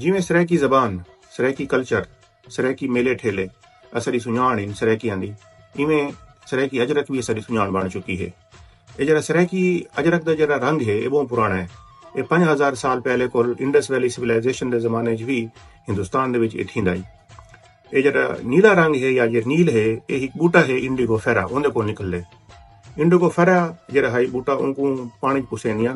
جیویں سرائیکی زبان، سرائیکی کلچر، سرائیکی میلے ٹھیلے اساݙی سنڄاݨ ہن سرائیکیاں دی ایویں سرائیکی اجرک وی اساݙی سنڄاݨ بݨ چکی ہے۔ اے جیڑھا سرائیکی اجرک دا جیڑھا رنگ ہے اے ٻہوں پراݨا ہے۔ اے پنج ہزار سال پہلے کول انڈس ویلی سویلائزیشن دے زمانے اچ وی ہندوستان دے وچ اے تھیندا ہئی۔ اے جیڑھا نیلا رنگ ہے یا جیڑھا نیل ہے اے ہک ٻوٹا ہے انڈیگو فیرا اوندے کولوں نکلدے۔ انڈیگو فیرا جیڑھا ہئی ٻوٹا اونکوں پاݨی اچ پسیندیاں۔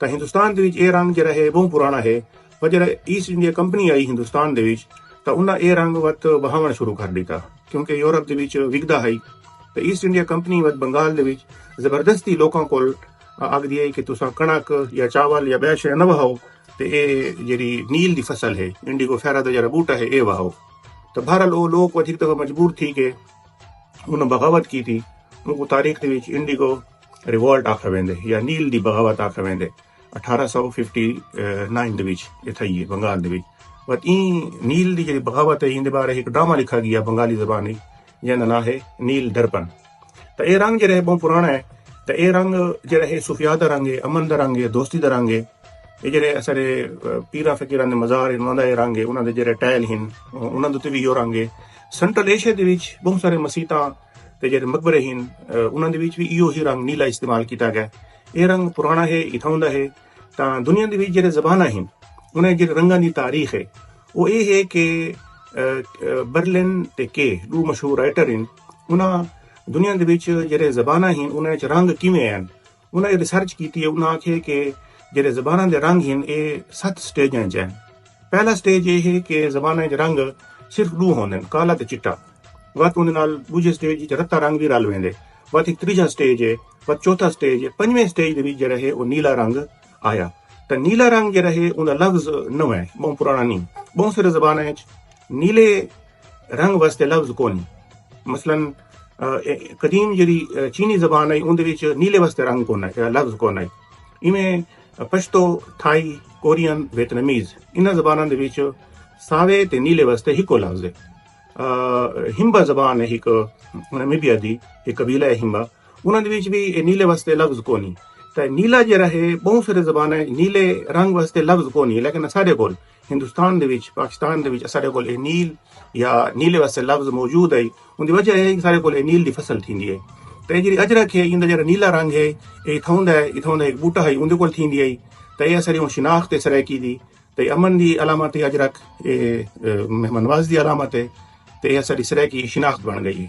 تاں ہندوستان دے وچ اے رنگ جیرھا ہے بہوں پرانا ہے پر جیرھا ایسٹ انڈیا کمپنی آئی ہندوستان دے وچ تاں انہاں اے رنگ وت وہاوݨ شروع کر ݙتا کیونکہ یورپ دے وچ وکدا ہئی تاں ایسٹ انڈیا کمپنی وت بنگال دے وچ زبردستی لوکاں کول آکھدی ہئی کہ تساں کݨک یا چاول یا ٻیا شے نہ وہاؤ تے اے جیرھی نیل دی فصل ہے انڈیگو فیرا دا جیرھا ٻوٹا ہے اے وہاؤ تاں بہرحال او لوک ودھیک دفعہ مجبور تھی کے انہاں بغاوت کیتی اونکوں تاریخ دے وچ انڈیگو ریوولٹ آکھا ویندے یا نیل دی بغاوت آکھا ویندے اٹھارہ سو ففٹی نائن دے وچ اے تھئی ہے بنگال دے وچ وت این نیل دی جڑی بغاوت ہے ایندے بارے ایک ڈرامہ لکھا گیا بنگالی زبان وچ جیندا ناں ہے نیل درپن تے اے رنگ جڑا ہے بہت پرانا ہے تے اے رنگ جڑا ہے صوفیاء دا رنگ ہے امن دا رنگ ہے دوستی دا رنگ ہے اے جڑے اثر پیرا فقیراں دے مزار ہیں انہاں دا اے رنگ ہے انہاں دے جڑے ٹائل ہیں انہاں دے تے وی یو رنگ ہے سینٹرل ایشیا دے وچ بہت سارے مسیتاں تے جیڑھے مقبرے ہن انہاں دے وچ وی ایہو ہی رنگ نیلا استعمال کیتا گئے ایہ رنگ پرانا ہے اتھاؤں دا ہے تاں دنیا دے وچ جیڑھے زباناں ہن انہاں جیڑھے رنگاں دی تاریخ ہے او ایہ ہے کہ برلن تے کے دو مشہور رائٹر ہن انہاں دنیا دے وچ جیڑھے زباناں ہن انہاں وچ رنگ کیویں آئن انہاں اے ریسرچ کیتی ہے انہاں آکھیے کہ جیڑھے زباناں دے رنگ ہن اے ست سٹیجاں اچ ہن پہلا سٹیج اے ہے کہ زباناں اچ رنگ صرف ڈو ہوندن کالا تے چٹا وت اوندے نال ڈوجھے سٹیج اچ رتا رنگ وی رل ویندے وت ہک تریجھا سٹیج اے وت چوتھا سٹیج اے پنجویں سٹیج دے وچ جیڑھا ہے او نیلا رنگ آیا تاں نیلا رنگ جیڑھا ہے اوندا لفظ نویں بہوں پرانا نی بہوں سارے زباناں اچ نیلے رنگ واسطے لفظ کونی مثلا قدیم جڑی چینی زبان آئی ان وچ نیلے واسطے رنگ کون آئی لفظ کون آئی ایویں پشتو تھائی کورین ویتنمیز ان زبانوں دے وچ ساوے تے نیلے واسطے ہکو لفظ ہے ہمبا زبان ہے ایک نمیبیا دی ایک قبیلہ ہے ہمبا انہاں دے وچ بھی نیلے واسطے لفظ کونی تے نیلا جڑا ہے بہت سارے زبانیں نیلے رنگ واسطے لفظ کونی لیکن سارے کول ہندوستان دے وچ پاکستان دے وچ اساڈے کول اے نیل یا نیلے واسطے لفظ موجود ہے اوندی وجہ ہے کہ اساڈے کول اے نیل دی فصل تھیندی ہے تے جیڑی اجرک ہے ایندا جیڑا نیلا رنگ ہے اے اتھاؤں دا ہے اتھاؤں دا ایک بوٹا ہے اوندے کول تھیندی ہے تے اے اساڈی ہن شناخت ہے سرائیکی دی تے امن دی علامت ہے اجرک اے مہمان نوازی دی علامت ہے تے اے اساڈی سرائیکی شناخت بن گئی ہے۔